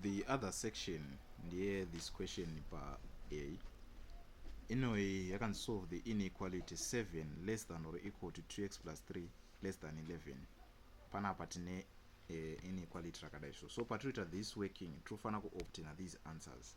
the other section ndeye this question pa a inoyi yakanzi solve the inequality 7 less than or equal to 2x plus 3 less than 11 panapa tine uh, inequality rakadai so so patinoita this working tinofanira kuobtaina these answers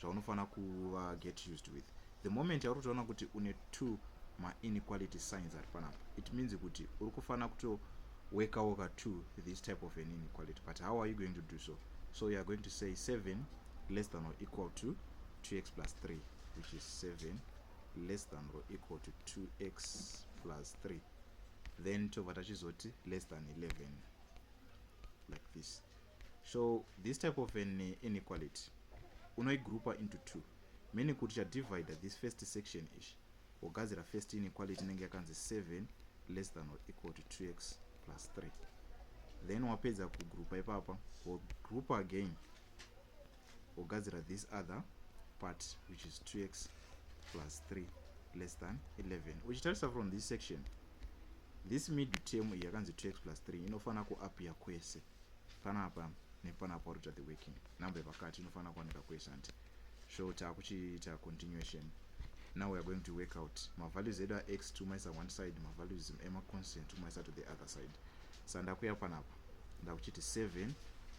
zvaunofanira kuva get used with the moment yauri kutoona kuti une two mainequality signs ari panapa it means kuti uri kufanira kutoworka worka to this type of an inequality but how are you going to do so so you are going to say seven less than or equal to 2x plus 3 which is 7 less than or equal to 2x plus 3 then tobva tachizoti less than 11 like this so this type of an uh, inequality unoigroupa into two meaning kuti chadivide this first section ichi wogadzira first inequality inenge yakanzi 7 less than or equal to 2x plus 3 then wapedza kugroupa ipapa wogroupa again wogadzira this other part which is 2x plus 3 less than 11 uchitarisa from this section this middle term iyi yakanzi 2x plus 3 inofanira kuappear kwese panapa nepanapa uri kuita the working number yepakati inofanira kuwanika kwese hanti so taakuchiita continuation now weare going to work out mavalues edu ax tiumaisa one side mavalues emaconstant tiumaisa to the other side sa ndakuya panapa ndakuchiti 7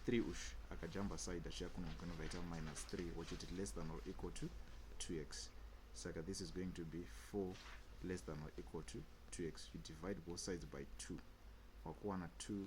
3 ush akajamba side achiya kuno kanovaita minus 3 wochiti less than or equal to 2x saka this is going to be 4 less than or equal to 2x you divide both sides by 2 wakuwana 2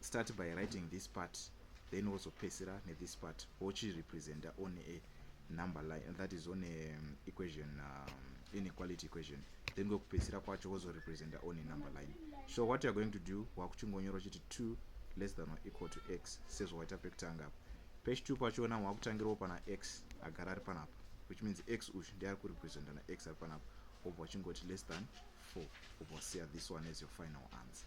start by writing this part then wozopesera nethis part wochirepresenta on a number line that is on a um, equation um, inequality equation then kwekupesera kwacho wozorepresenta on a number line so what youare going to do wakuchingonyora uchiti two less than or equal to x sezvawaita pekutanga apa pechi two pachona wakutangirawo pana x agara ari panapa which means x uyu ndi ari kurepresenta na x ari panapa obva wachingoti less than four obva wasiya this one as your final answer